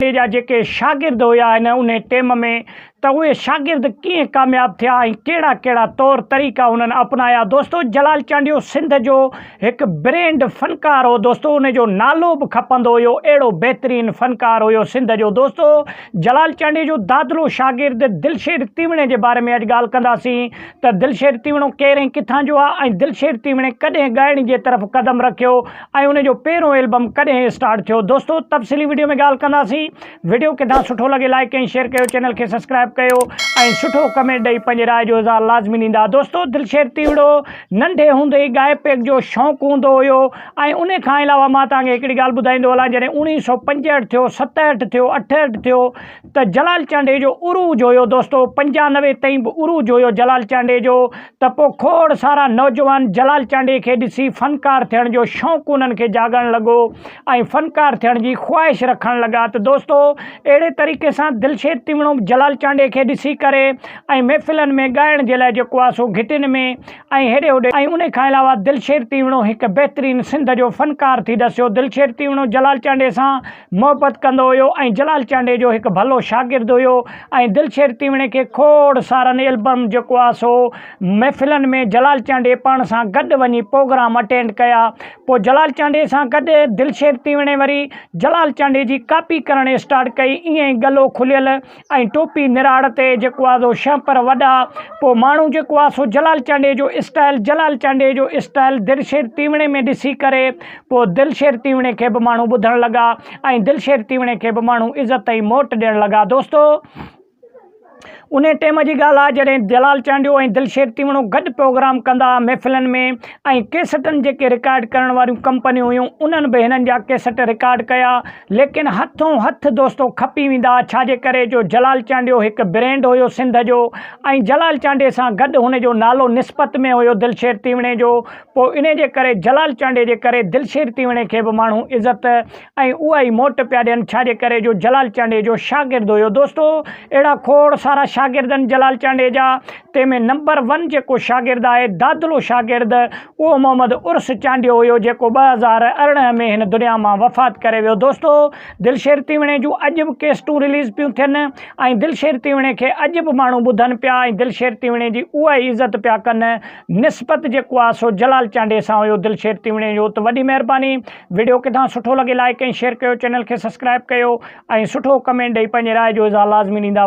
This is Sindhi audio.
ٽي جا جيڪي شاگرد هيا هن انهي ٽيم ۾ ته اهي شاگرد ڪيئن ڪامياب ٿيا ۽ ڪهڙا ڪهڙا طور طريقا انهن اپنايا دوستو جلال چانڊيو سنڌ جو هڪ برينڊ فنڪار هو دوستو انهي جو نالو به کپندو هيو اهڙو بهترين فنڪار هيو سنڌ جو دوستو جلال چانڊيي جو دادلو شاگرد دلشير تيوڻي جي باري ۾ اڄ ڳالهه ڪنداسين ته دلشير تيوڻو ڪير ۽ ڪٿان جو آ ۽ دلشير تيوڻي ڪڏهن ڳائڻ جي طرف قدم رکيو ۽ ان جو پهريون البم ڪڏهن اسٽارٽ ٿيو دوستو تفصيلي وڊيو ۾ ڳالهه ڪنداسين وڊيو ڪٿان سٺو لڳي لائڪ ۽ شيئر ڪيو چينل کي سبسڪرائب ڪيو ۽ سٺو ڪمينٽ ڏئي پنهنجي راء جو اظهار لازمي ڏيندا دوستو دلشير تيوڙو ننڍي هوندي ئي ڳائي پيگ جو شوق هوندو هيو ۽ ان کان علاوه مان توهان کي هڪڙي ڳالهه ٻڌائيندو هلان جڏهن اوڻيهه سؤ پنجهٺ ٿيو ستهٺ ٿيو اٺهٺ ٿيو ته جلال چانڊيي جو عروج هيو دوستو پنجاهه نوي تائين به عروج هيو جلال چانڊيي جو ته پو کوڙ سارا نوجوان جلال چانڊيي کي ڏسي فنڪار ٿيڻ جو شونق انهن کي جاڳڻ لڳو ۽ فنڪار ٿيڻ جي خواهش رکڻ لڳا ته دوستو اهڙي طريقي سان دلشير تيوڻو به جلال چانڊيي کي ڏسي ڪري ۽ محفلن ۾ ڳائڻ جي لاء جيڪو آ سو گهٽين ۾ ۽ هيڏي هوڏي ۽ انهي کان علاوه دلشير تيوڻو هڪ بهترين سنڌ جو فنڪار ٿي ڏسيو دلشير تيوڻو جلال چانڊيي سان محبت ڪندو هيو ۽ جلال چانڊيي جو هڪ ڀلو شاگرد هيو ۽ دلشير تيوڻي کي کوڙ سارن البم جيڪو آ سو محفلن ۾ جلال چانڊيي پاڻ سان گڏ وڃي پوگرام اٽينڊ ڪيا پو جلال چانڊيي سان گڏ دلشير تيوڻي وري جلال چانڊيي جي ڪاپي ڪرڻ اسٽارٽ ڪئي ائين گلو کليل ۽ ٽوپي نراڙ تي جيڪو آ سو شهپر وڏا پوء ماڻهو جيڪو آ سو جلال چانڊيي جو اسٽائيل جلال چانڊيي جو اسٽائيل دلشير تيوڻي ۾ ڏسي ڪري پوء دلشير تيوڻي کي به ماڻهو ٻڌڻ لڳا ۽ دلشير تيوڻي کي به ماڻهو عزت ۽ موٽ ڏيڻ لڳا دوستو انهي ٽيم جي ڳالهه آ جڏهن جلال چانڊيو ۽ دلشير تيوڻو گڏ پروگرام ڪندا محفلن ۾ ۽ ڪيسٽن جيڪي رڪارڊ ڪرڻ واريون ڪمپنيون هيون انهن به هنن جا ڪيسٽ رڪارڊ ڪيا ليڪن هٿون هٿ دوستو کپي ويندا ڇاجي ڪري جو جلال چانڊيو هڪ برينڊ هيو سنڌ جو ۽ جلال چانڊي سان گڏ هن جو نالو نسبت ۾ هيو دلشير تيوڻي جو پوء انهي جي ڪري جلال چانڊي جي ڪري دلشير تيوڻي کي به ماڻهو عزت ۽ اها ئي موٽ پيا ڏين ڇاجي ڪري جو جلال چانڊيجو شاگرد هيو دوستو اهڙا کوڙ سارا شاگرد آهن جلال چانڊيجا تنهن ۾ نمبر ون جيڪو شاگرد آهي دادلو شاگرد اهو محمد عرس چانڊيو هيو جيڪو ٻه هزار ارڙهن ۾ هن دنيا مان وفات ڪري ويو دوستو دلشير تيوڻي جون اڄ به ڪيسٽون رليز پيون ٿين ۽ دلشير تيوڻي کي اڄ به ماڻهو ٻڌن پيا ۽ دلشير تيوڻي جي اها ئي عزت پيا ڪن نسبت جيڪو آ سو جلال چانڊئي سان هيو دلشير تيوڻي جو ته وڏي مهرباني وڊيو ڪٿان سٺو لڳي لائيڪ ۽ شيئر ڪيو چينل کي سسڪرائب ڪيو ۽ سٺو ڪمينٽ ڏئي پنهنجي راء جو اظهار لازمي ڏيندا.